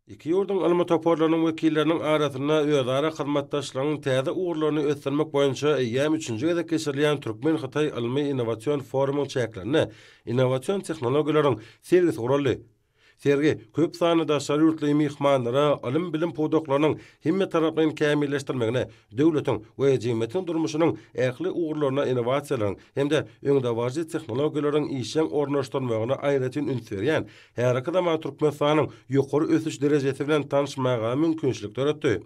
Iki ýurduň ylmy toparlarynyň wekilleriniň arasynda özara hyzmatdaşlygyň täze ugurlaryny ösdürmek boýunça eýýäm üçünji gezek geçirilýän türkmen-hytaý ylmy-innowasion forumyň çäklerinde innowasion tehnologiýalaryň sergisi guraldy. Sergi köp sanly daşary ýurtly myhmanlara ylym-bilim pudaklarynyň hemmetaraplaýyn kämilleşdirmegine, döwletiň we jemgyýetiň durmuşynyň ähli ugurlaryna innowasiýalaryň hem-de öňdebaryjy tehnologiýalaryň işjeň ornaşdyrylmagyna aýratyn üns berýän Häzirki zaman Türkmenistanyň ýokary ösüş derejesi bilen tanyşmaga mümkinçilik döretdi.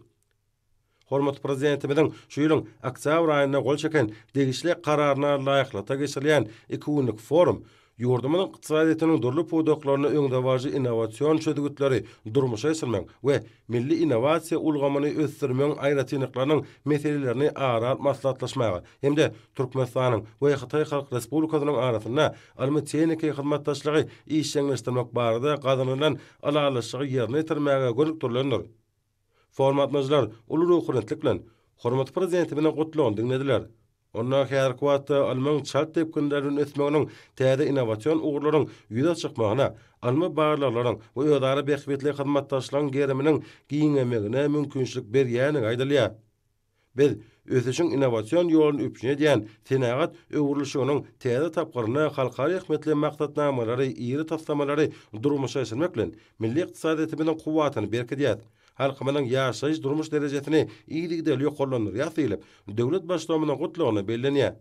Hormatly Prezidentimiziň şu ýylyň oktýabr aýynda gol çeken degişli Kararyna laýyklykda geçirilýän iki günlük forum ýurdumyzyň ykdysadyýetiniň dürli pudaklarynda öňdebaryjy innowasion çözgütleri durmuşa geçirmegiň we milli innowasiýa ulgamyny ösdürmegiň aýratynlyklarynyň meselelerini ara alyp maslahatlaşmaga hem-de Türkmenistanyň we Hytaý Halk Respublikasynyň arasynda ylmy-tehniki hyzmatdaşlygy işjeňleşdirmek barada gazanylan ylalaşygy ýerine ýetirmäge gönükdirilendir. Formatlaýjylar uly ruhubelentlik bilen hormatly Prezidentimiziň Gutlagyny diňlediler. Onda häzirki wagtda ylmyň çalt depginler bilen ösmeginiň täze innowasion ugurlaryň ýüze çykmagyna, ylmy barlaglaryň we özara bähbitli hyzmatdaşlygyň geriminiň giňemegine mümkinçilik berýändigi aýdylýar. Biz ösüşiň innowasion ýoluny üpjün edýän senagat öwrülişiginiň täze tapgyrynda halkara ähmiýetli maksatnamalary, iri taslamalary durmuşa geçirmek bilen, milli ykdysadyýetimiziň kuwwatyny berkidýäris, halkymyzyň ýaşaýyş-durmuş derejesini yzygiderli ýokarlandyrýarys diýlip, döwlet Baştutanymyzyň Gutlagynda bellenýär.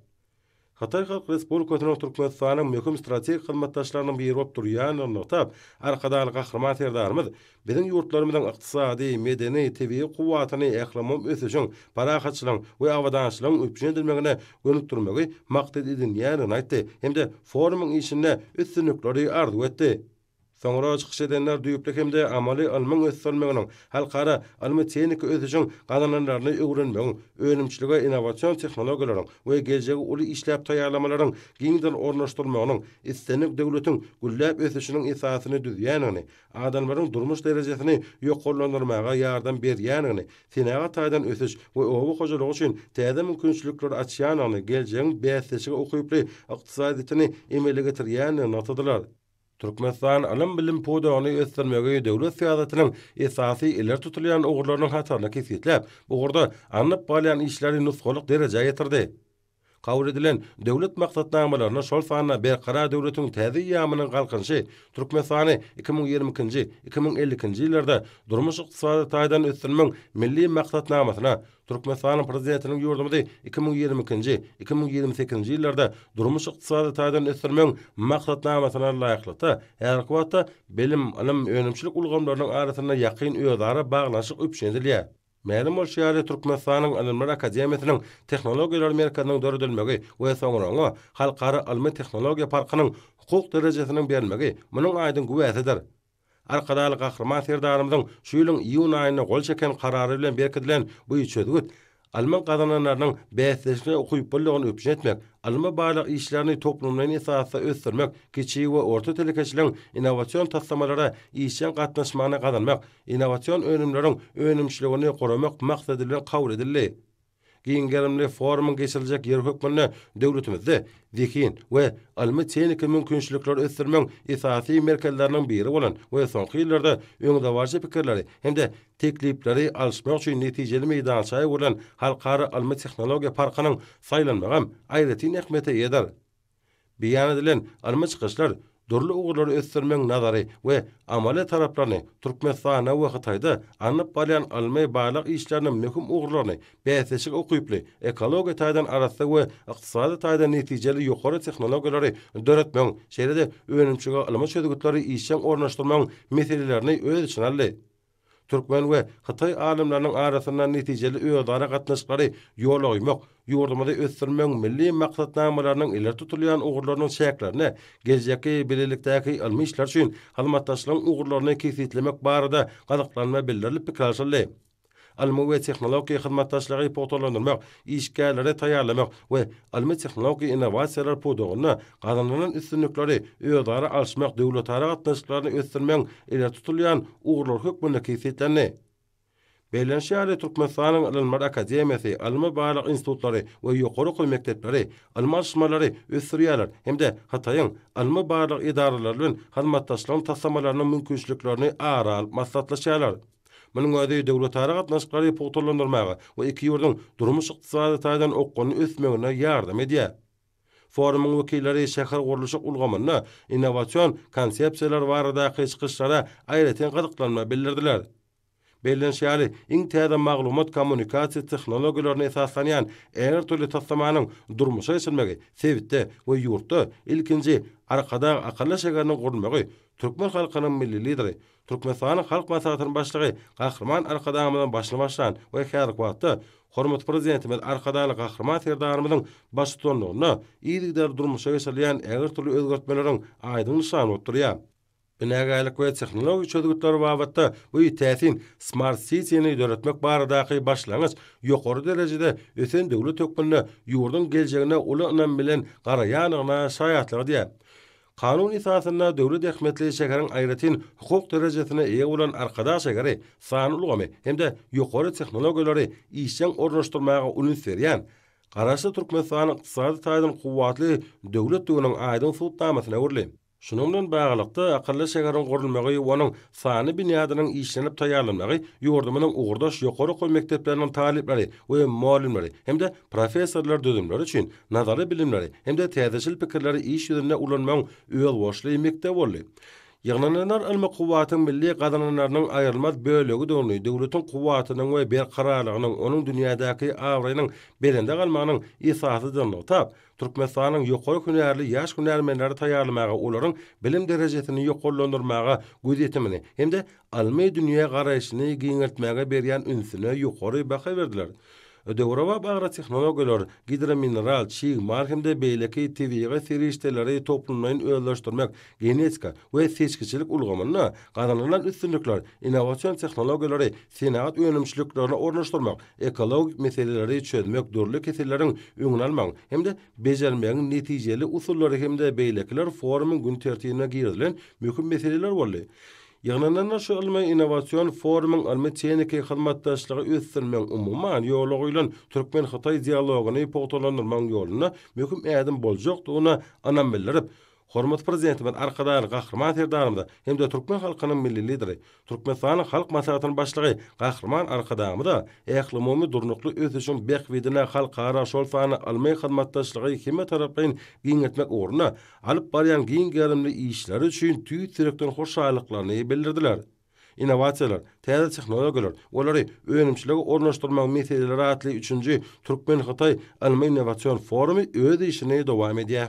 Hytaý Halk Respublikasynyň Türkmenistana möhüm strategik hyzmatdaşlarynyň biri bolup durýandygyny nygtap, Arkadagly Gahryman Serdarymyz biziň ýurtlarymyzyň ykdysady, medeni, tebigy kuwwatyny ählumumy ösüşiň, parahatçylygyň we abadançylygyň üpjün edilmegine gönükdirmegi maksat edinýändigini aýtdy hem-de forumyň işinde üstünlikleri arzuw etdi. Soňra çykyş edenler düýpli hem-de amaly ylmyň ösdürilmeginiň, halkara ylmy-tehniki ösüşiň gazananlaryny öwrenmegiň, önümçilige innowasion tehnologiýalaryň we geljegi uly işläp taýýarlamalaryň giňden ornaşdyrylmagynyň islendik döwletiň gülläp ösüşiniň esasyny düzýändigini, adamlaryň durmuş derejesini ýokarlandyrmaga ýardam berýändigini, senagat taýdan ösüş we oba hojalygy üçin täze mümkinçilikleri açýandygyny, geljegiň bäsleşige ukyply ykdysadyýetini emele getirýändigini nygtadylar. Türkmenistan ylym-bilim pudagyny ösdürmegi döwlet syýasatynyň esasy ileri tutulýan ugurlarynyň hataryna kesgitläp, bu ugurda alnyp barylýan işleri nusgalyk derejä getirdi. Kabul edilen döwlet maksatnamalaryna, şol sanda Berkarar döwletiň täze eýýamynyň Galkynyşy Türkmenistany iki müň ýigrimi ikinji, iki müň elli ikinji ýyllarda durmuş-ykdysady taýdan ösdürmegiň Milli maksatnamasyna, Türkmenistanyň Prezidentiniň ýurdumyzy iki müň ýigrimi ikinji, iki müň ýigrimi sekizinji ýyllarda durmuş-ykdysady taýdan ösdürmegiň Maksatnamasyna laýyklykda, häzirki wagtda bilim, ylym, önümçilik ulgamlarynyň arasynda ýakyn özara baglanyşyk üpjün edilýär. Mälim bolşy ýaly, Türkmenistanyň Ylymlar akademiýasynyň Tehnologiýalar merkeziniň döredilmegi we soňra oňa Halkara ylmy-tehnologiýa parkynyň hukuk derejesiniň berilmegi munuň aýdyň güwäsidir. Arkadagly Gahryman Serdarymyzyň şu ýylyň iýun aýynda gol çeken Karary bilen berkidilen bu çözgüt ylmyň gazananlarynyň bäsdeşlige ukyplylygyny üpjün etmek, ylmy-barlag işlerini toplumlaýyn esasda ösdürmek, kiçi we orta telekeçiligiň innowasion taslamalara işjeň gatnaşmagyny gazanmak, innowasion önümleriň önümçiligini guramak maksady bilen kabul edildi. Giň gerimli forumyň geçiriljek ýeri hökmünde döwletimizde zehin we ylmy-tehniki mümkinçilikleri ösdürmegiň esasy merkezleriniň biri bolan we soňky ýyllarda öňdebaryjy pikirleri hem-de teklipleri alyşmak üçin netijeli meýdança öwrülen Halkara ylmy-tehnologiýa parkynyň saýlanmagam aýratyn ähmiýete eýedir. Beýan edilen ylmy çykyşlar dürli ugurlary ösdürmegiň nazary we amaly taraplaryny, Türkmenistanda we Hytaýda alnyp barylýan ylmy-barlag işleriniň möhüm ugurlaryny, bäsleşige ukyply, ekologiýa taýdan arassa we ykdysady taýdan netijeli ýokary tehnologiýalary döretmegiň, şeýle-de önümçilige ylmy çözgütleri işjeň ornaşdyrmagyň meselelerini öz içine aldy. Türkmen we hytaý alymlarynyň arasynda netijeli özara gatnaşyklary ýola goýmak, ýurdumyzy ösdürmegiň milli maksatnamalarynyň ileri tutulýan ugurlarynyň çäklerinde geljekki bilelikdäki ylmy işler üçin hyzmatdaşlygyň ugurlaryny kesgitlemek barada gyzyklanma bildirilip pikir alşyldy. Ylmy we tehnologik hyzmatdaşlygy pugtalandyrmak, işgärleri taýýarlamak we ylmy-tehnologik innowasiýalar pudagynda gazanylan üstünlikleri özara alyşmak döwletara gatnaşyklaryny ösdürmegiň ileri tutulýan ugurlary hökmünde kesgitlendi. Bellenişi ýaly, Türkmenistanyň Ylymlar akademiýasy, ylmy-barlag institutlary we ýokary okuw mekdepleri ylmy alyşmalary ösdürýärler hem-de Hytaýyň ylmy-barlag edaralary bilen hyzmatdaşlygyň taslamalarynyň mümkinçiliklerini ara alyp maslahatlaşýarlar. Munuň özi döwletara gatnaşyklary pugtalandyrmaga we iki ýurduň durmuş-ykdysady taýdan okgunly ösmegine ýardam edýär. Forumyň wekilleri şähergurluşyk ulgamynda innowasion konsepsiýalar baradaky çykyşlara aýratyn gyzyklanma bildirdiler. Bellenişi ýaly, iň täze maglumat-kommunikasiýa tehnologiýalaryna esaslanýan ägirt dürli taslamanyň durmuşa geçirilmegi sebitde we ýurtda ilkinji Arkadag akylly şäheriniň gurulmagy türkmen halkynyň Milli Lideri, Türkmenistanyň Halk Maslahatynyň Başlygy Gahryman Arkadagymyzyň başyny başlan we häzirki wagtda hormatly Prezidentimiz Arkadagly Gahryman Serdarymyzyň baştutanlygynda yzygiderli durmuşa geçirilýän ägirt dürli özgertmeleriň aýdyň nyşany bolup durýar. Binagärlik we tehnologik çözgütler babatda bu täsin Smart City-ni döretmek baradaky başlangyç ýokary derejede ösen döwlet hökmünde ýurduň geljegine uly ynam bilen garaýandygyna şaýatlyk edýär. Kanun esasynda döwlet ähmiýetli şäheriň aýratyn hukuk derejesine eýe bolan Arkadag şägeri sanly ulgamy hem-de ýokary tehnologiýalary işjeň ornaşdyrmaga uns berýän, Garaşsyz Türkmenistan ykdysady taýdan kuwwatly döwletdiginiň aýdyň subutnamasyna öwrüldi. Şunuň bilen baglylykda, akylly şäheriň gurulmagy we onuň sanly binýadynyň işlenip taýýarlanmagy ýurdumyzyň ugurdaş ýokary okuw mekdepleriniň talyplary we mugallymlary hem-de professorlar düzümleri üçin Nazary bilimleri hem-de täzeçil pikirleri iş ýüzünde ulanmagyň özboluşly mekdebi boldy. Ýygnananlar ylmy kuwwatyň milli gazananlarynyň aýrylmaz bölegidigini, döwletiň kuwwatynyň we berkararlygynyň, onuň dünýädäki abraýynyň belende galmagynyň esasydygyny nygtap, Türkmenistanyň ýokary hünärli ýaş hünärmenleri taýýarlamaga, olaryň bilim derejesini ýokarlandyrmaga gözýetimini hem-de ylmy dünýä garaýşyny giňeltmäge berýän ünsüne ýokary baha berdiler. Döwrebap agrotehnologiýalar, gidromineral, çig mal hem-de beýleki tebigy serişdeleri toplumlaýyn özleşdirmek, genetika we seçgiçilik ulgamynda gazanylan üstünlikler, innowasion tehnologiýalary senagat önümçiliklerine ornaşdyrmak, ekologik meseleleri çözmek, dürli keselleriň öňüni almagyň hem-de bejermegiň netijeli usullary hem-de beýlekiler forumyň gün tertibine girizilen möhüm meseleler boldy. Ýygnananlar şu ylmy-innowasion forumyň ylmy-tehniki hyzmatdaşlygy ösdürmegiň umuman ýola goýlan türkmen-hytaý dialogyny pugtalandyrmagyň ýolunda möhüm ädim boljakdygyna ynam bildirip, hormatly Prezidentimiz Arkadagly Gahryman Serdarymyza hem-de türkmen halkynyň Milli Lideri, Türkmenistanyň Halk Maslahatynyň Başlygy Gahryman Arkadagymyza ählumumy durnukly ösüşiň bähbidine halkara, şol sanda ylmy hyzmatdaşlygy hemmetaraplaýyn giňeltmek ugrunda alyp barýan giň gerimli işleri üçin tüýs ýürekden hoşallyklaryny bildirdiler. Innowasiýalar, täze tehnologiýalar, olary önümçilige ornaşdyrmagyň meseleleri atly üçünji türkmen-hytaý ylmy-innowasion forumy öz işini dowam edýär.